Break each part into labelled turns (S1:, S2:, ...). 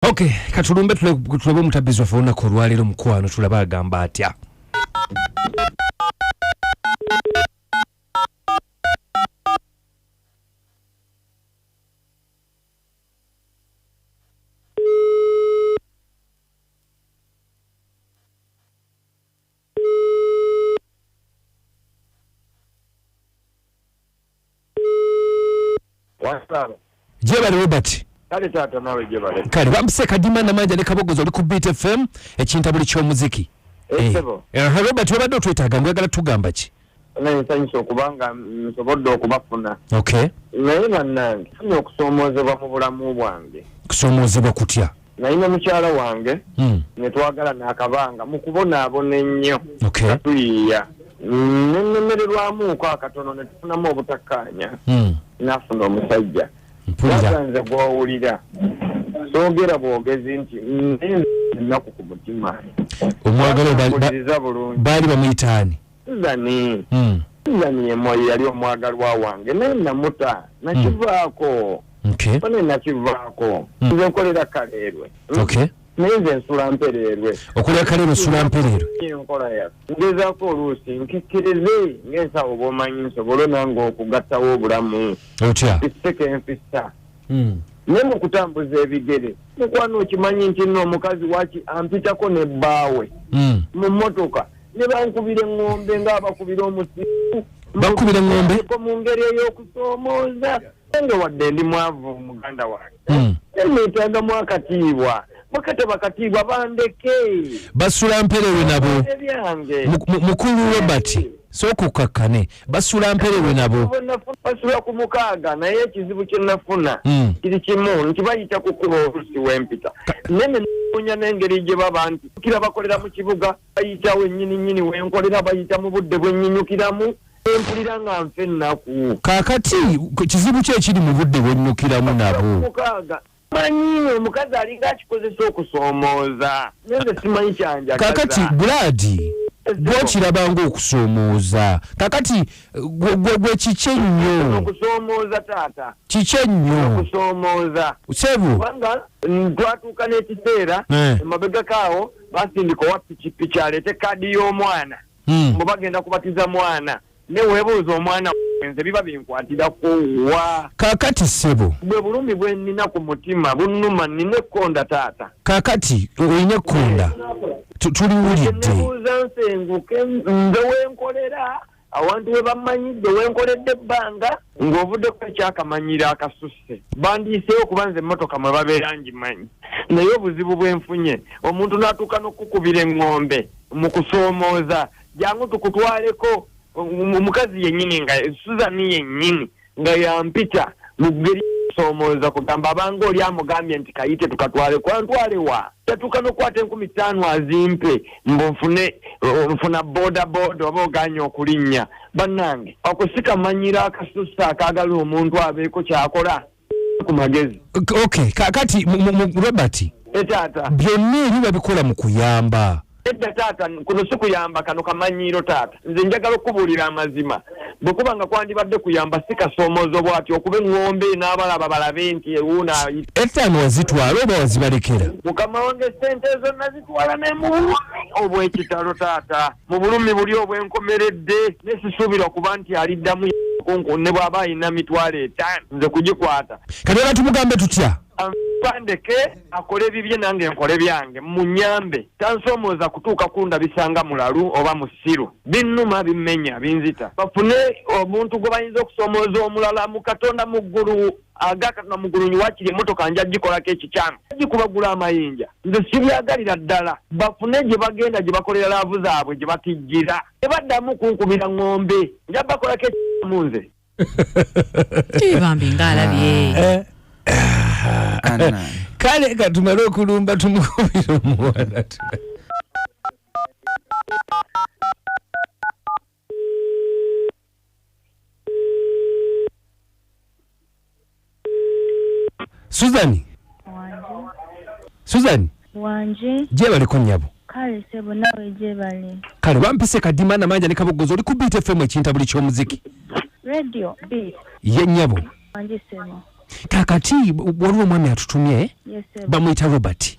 S1: ok katulumbe tulabe omutabbizi waffe olunaku olwaleero mukwano tulaba agamba atya jebale robert kale taata nawe
S2: jebale kale bambise kadima
S1: namanja ne kabogoza oli ku beat fm ekintabuli ky'omuziki
S2: eh, eh, eh, robert wabadde
S1: otwetaaga mwagala tugamba ki naye nsanyusa okuba
S2: nga nsobodde okubafuna okay naye
S1: bannange
S2: funye okusoomoozebwa mu bulamu bwange kusoomoozebwa kutya
S1: naye ne mukyala
S2: wange hmm. ne twagala naakabanga mu kubonaabona ennyo okay tuyiiya nenemererwamuuko akatono ne tufunamu obutakkaanya hmm. nafuna omusajja mpulira nze gwowulira sogera bwogezi nti nze ennaku ku mutima
S1: omwagala baali bamuyitaani Suzani. Mm. Suzani
S2: yemoyo yali omwagalwa wange naye namuta nakivaako. Mm. Okay. Bane nakivaako. Mm. Nze nkolera kaleerwe. Mm. Okay. Naye nze nsula mpereerwe. Okolera kaleerwe nsula
S1: mpereerwe. Enkola ya.
S2: Ngezaako oluusi nkikkirize ng'ensawo bw'omanyi nsobole nange okugattawo obulamu. Otya. Ekiseke
S1: enfissa.
S2: Mm. Naye mu kutambuza ebigere mukwano okimanyi nti nno omukazi waki ampitako ne bbaawe. Mm. Mu mmotoka. Mm. ne bankubira eŋŋombe ng'abakubira omusiku bakubira eŋŋombe
S1: mu ngeri
S2: ey'okusoomooza nge wadde ndi mwavu muganda wange hmm. neetagamu akatiibwa bakataba katiibwa bandeke basula
S1: mperewe nabo mukulu robert sokukakkane basula mperewe nabo basula ku
S2: mukaaga naye ekizibu kye nafuna hmm. kiri kimu nti bayita kukuba olusi wempita nene nonya n'engeri gye baba nti kira bakolera mu kibuga Bayita wennyini nnyini wenkolera bayita mu budde bwennyinyukiramu empulira nga nfa ennaku. Kaakati kizibu ki ekiri
S1: mu budde bwennukiramu nabo? Mukaaga.
S2: Manyi omukazi alinga akikozesa okusoomooza naye nze simanyi kyanjagaza. Kaakati Bulaadi
S1: gwokiraba ng'okusoomooza kaakati gwe kiki ennyo? Okusoomooza taata.
S2: Kiki ennyo?
S1: Okusoomooza.
S2: Sebo. Kubanga twatuuka n'ekiseera emabegako awo. basindika owa pikipiki aleete kaadi y'omwana hmm. mbu bagenda kubatiza mwana newebuuza omwana wenze biba binkwatirako wa kakati sebo
S1: bwe bulumi bwenina
S2: ku mutima bunuma nina ekkonda taata kakati olina
S1: ekkonda tuliwulidde nebuuza
S2: nsenguke nze wenkolera awantu we bammanyidde we nkoledde ebbanga ng'ovuddeko ekyakamanyiro akasusse bandiyiseewo kuba nze emmotoka mwe babeera ngimanyi naye obuzibu bwe nfunye omuntu n'atuuka n'okukukubira eŋŋombe mu kusoomooza jangu tukutwaleko omukazi yennyini nga suzani yennyini nga yampita mu ggeri soomooza kugamba abanga oli amugambye nti kayite tukatwale kwantwalewa tatuuka n'okukwata enkumi ttaano azimpe mbu nfune nfuna booda booda oba oganye okulinnya bannange akusika manyira akasusa akaagala omuntu abeeko kyakola ku magezi okay kati
S1: robert etaata
S2: byonna ebiba
S1: bikola mu kuyamba Edda taata,
S2: kuno si kuyamba, kano kamanyiiro taata. Nze njagala okukubuulira amazima. Bwe kuba nga kwandibadde kuyamba, si kasoomoozo bw'ati okuba eŋŋombe n'abalaba balabe nti ewuuno ayita. Ettaano
S1: wazitwala oba wazibalekera? Mukama wange ssente
S2: ezo nazitwala ne mu bulumi obw'ekitalo taata. Mu bulumi buli obwenkomeredde ne sisuubira kuba nti aliddamu kunku ne bw'aba alina mitwalo etaano nze kugikwata. Kati olaba tumugambe
S1: tutya? Anfa ndeke.
S2: akola ebibye nange nkole byange munyambe tansomooza kutuuka kundabisa nga mulalu oba musiru binnuma bimmenya binzita bafune omuntu gwe bayinza okusomooza omulala mu katonda mu ggulu aga katonda mu ggulu nyiwakiri emmotoka nja gikolako ekikyamu gikubagula amayinja nze sibyagalira ddala bafune gye bagenda gye bakolera laavu zaabwe gye batijjira tebaddamu kunkubira ng'ombe nja bakolako ekikyamu nze
S3: Eh, bambi nga alabye Eh, Anna.
S1: kale katumale okulumba tumukubira omuwala tu- Susan. Wanji.
S4: Susan. Wanji. Je bali ko nyabo.
S1: Kale sebo nawe
S4: je bali. Kale bampise
S1: kadima na manja nikabogozo oli ku beat FM ekinta buli kyo muziki. Radio beat. Ye nyabo. Wanji sebo. Kakati waliwo mwami atutumye. Yes sebo. Bamuyita
S4: Robert.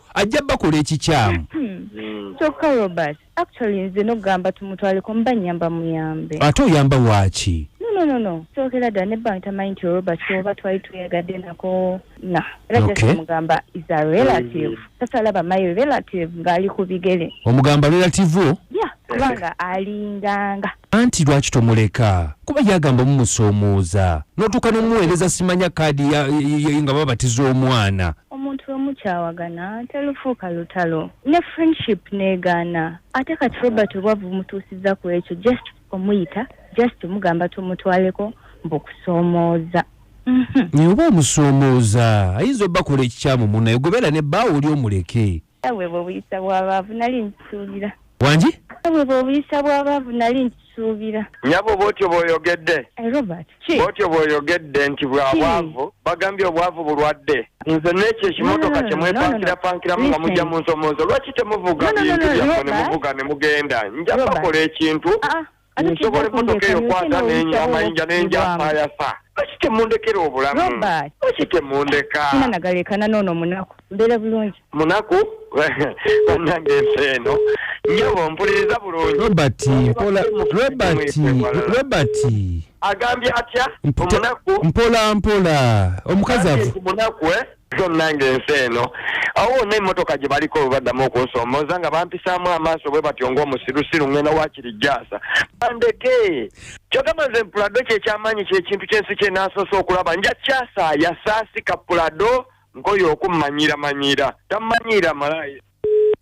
S1: ajja bakola ekikyamu hmm. kyokka
S4: robert actually nze nokugamba tumutwaleko mba nyamba muyambe ate oyamba waaki
S1: nononono
S4: kyokera ddala ne bank tamanyi nti oroba kyoba twali tweyagadde nako na era jasimugamba is
S1: a
S4: relative sasa mm. alaba my relative ng'ali ku bigere omugamba relative wo
S1: ya kubanga
S4: alinganga Anti lwaki
S1: tomuleka kuba yagamba mumusoomooza notuuka nomuweereza simanya kaadi nga babatiza omwana. Omuntu
S4: wemukyawagana telufuuka lutalo ne friendship negaana ate kati Robert obwavu bumutuusiza ku ekyo just omuyita just mugamba tumutwaleko mbu kusoomooza. Mhm.
S1: Naye oba omusoomooza ayinza obakola ekikyamu munaye gobera ne baawo oli omuleke. Nawe bw'obuyisa
S4: bw'abaavu nali nkisuubira. Wangi? Nawe
S1: bw'obuyisa
S4: bw'abaavu nali nkisuubira. Nyabo bw'otyo
S2: bw'oyogedde. Eh, Robert, ki?
S4: Bw'otyo bw'oyogedde
S2: nti bwa bwavu, bagambye obwavu bulwadde. Nze n'ekyo ekimotoka kye mwepankira pankiramu nga mujja mu nsomoozo, lwaki temuvuga bintu byammwe ne muvuga ne mugenda? Nja bakola ekintu ah, ah. nsobola emmotoka eyo kwata amayinja nenjaayasa lwaki temundekera obulamu lwaki temundeka sina nagalekana noono
S4: munaku mbeera bulungi munaku
S2: banange ensi eno nyabo mpuliriza bulungi robert mpola robert
S1: robert agambye
S2: atya omunaku mpola mpola
S1: omukazi avu munaku eh so
S2: nange ensi eno awo wonna emmotoka gye baliko baddamu okunsomooza nga bampisaamu amaaso bwe batyo ng'omusirusiru ngenda wakiri jaasa bandeke kyogamba nze mpulado kyekyamaanyi kyekintu kyensi kye naasoose okulaba nja kyasa yasaasika pulado nkoyo okummanyira manyira tammanyiira malaaya